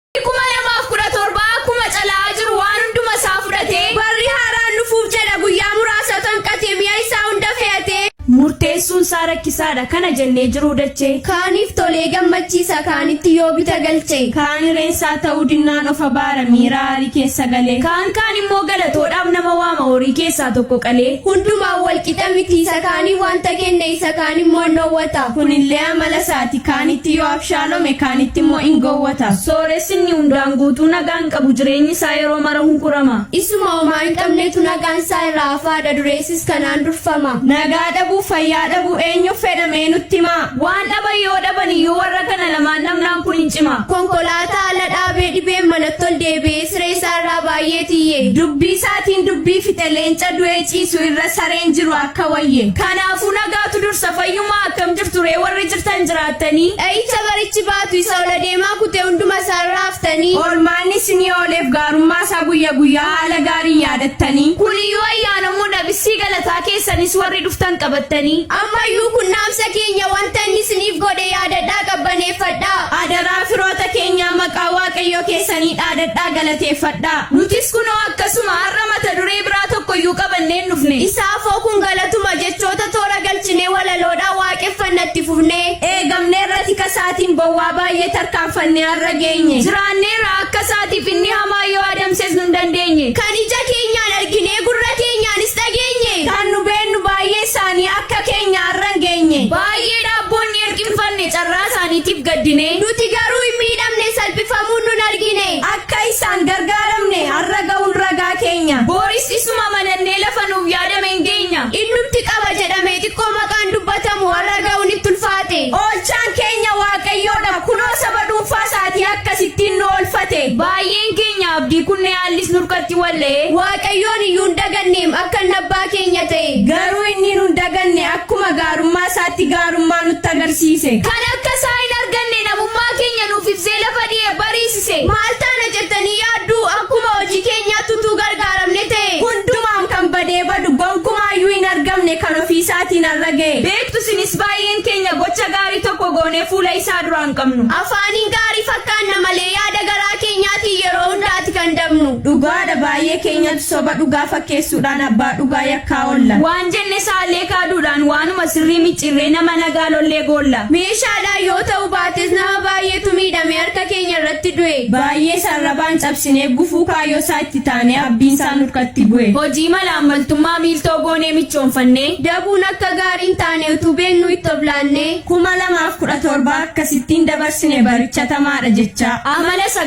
2017 akkuma cala'aa jiru waan hunduma isaa fudhatee barri haaraan dhufuuf jedha guyyaa muraasa kan qatee mi'a isaa hunda fe'atee murteessuun isaa rakkisaadha kana jennee jiruu dachee kaaniif tolee gammachiisa kaanitti yoo bita galchee kaan ireensaa ta'uu dinnaan of abaara miira aarii keessa galee kaan kaan immoo galatoodhaaf nama waama horii keessaa tokko qalee hundumaan walqixa miti isa kaanii wanta kenne isa kaan immoo hin dhoowwata kunillee amala isaati, kaanitti yoo abshaalome, kaanitti immoo in gowwota. Sooressi inni hundaan guutuu nagaa hin qabu, jireenyi isaa yeroo mara hunkurama. Isuma homaa hin qabnetu nagaan isaa irraa hafaa dha, dureessis kanaan durfama. Nagaa dhabuu, fayyaa dhabuu, eenyuuf fedha mee nutti himaa? Waan dhaban yoo dhaban iyyuu warra kana lamaan dhabnaan kun in cima. Konkolaataa ala dhaabee dhibeen manatti ol deebi'ee siree isaa irraa baay'ee tiyye. Dubbii isaatiin dubbii fixe, leenca du'ee ciisu irra sareen jiru akka wayye. Kanaafuu nagaatu dursa, fayyummaa. Akkam jirtu ree warri jirtan jiraattanii. Dha'icha barichi baatu isa ol adeemaa kute hunduma isaa irra haftanii. Oolmaan isinii ooleef gaarummaa isaa guyya guyyaa haala gaariin yaadattanii. Kun iyyuu ayyaanamuu dha bissii galataa keessanis warri dhuftan qabattanii. Amma iyyuu kun dhaamsa keenya wanta inni isiniif godhe yaadadhaa qabbaneeffadhaa. Adaraa firoota keenyaa maqaa Waaqayyoo keessanii dhaadadhaa galateeffadhaa. Nutis kunoo akkasuma har'a mata duree biraa tokko iyyuu qabannee hin dhufne. Isa afoo kun galatuma jechuudha. Jechoota toora galchinee walaloodhaan waaqeffanna itti fufnee. Eegamneerra tika isaatiin bowwaa baay'ee tarkaanfannee har'a geenye. Jiraanneerra akka isaatiif inni hamaa yoo adamses nun dandeenye. Kan ija keenyaan arginee gurra keenyaanis dhageenye. Kan nu beennu baay'ee isaanii akka keenya har'a hin geenye. Baay'ee dhaabboonni hirqinfanne carraa isaaniitiif gaddinee. Nuti garuu hin miidhamne salphifamuun nun argine. Akka isaan gargaaramne har'a ga'uun ragaa keenya. Boris isuma amanannee lafa nuuf yaadne. yaadame hin geenya. Innumti qaba jedhame xiqqoo maqaan dubbatamu har'a ga'uun itti ulfaate. Oolchaan keenya Waaqayyoodha, kunoo saba dhuunfaa isaatii akkasittiin nu oolfate. Baay'een keenya abdii kunnee haallis nurkatti wal'ee. Waaqayyoon iyyuu hin daganneem akka inni abbaa keenya ta'e. Garuu inni nu hin daganne akkuma gaarummaa isaatti gaarummaa nutti agarsiise. Kan akka isaa hin arganne namummaa keenya nuuf ibsee lafa dhi'e bariise. ibse. Maal taana jettanii yaaddu? Akkuma hojii keenyaatti utuu gargaaramne ta'ee, hundumaan kan badee badu gonkumaa iyyuu hin argamne kan ofii isaatiin har'a ga'e. Beektu isinis baay'een keenya gocha gaarii tokko goonee fuula isaa duraa hin qabnu. Afaaniin gaarii fakkaanna malee yaada garaa keenyaatiin yeroo hundaati kan dabnu. Dhugaa dha baay'ee keenyatu soba dhugaa fakkeessuudhaan abbaa dhugaa yakkaa oolla. Waan jenne saallee kaaduudhaan waanuma sirrii micciirree nama nagaa lollee goolla. Meeshaadhaan yoo ta'uu baates nama baay'eetu miidhamee harka. Gooftaa keenya irratti du'e. Baayyees arrabaan cabsinee gufuu kaayyoo isaa itti taanee abdiin isaa nurkatti bu'e. Hojii malaammaltummaa miiltoo goonee michoomfannee. Dabuun akka gaarii hin taane utuu beeknuu itti of laannee. 2017 akkasittiin dabarsine baricha tamaadha jechaa. Amala isa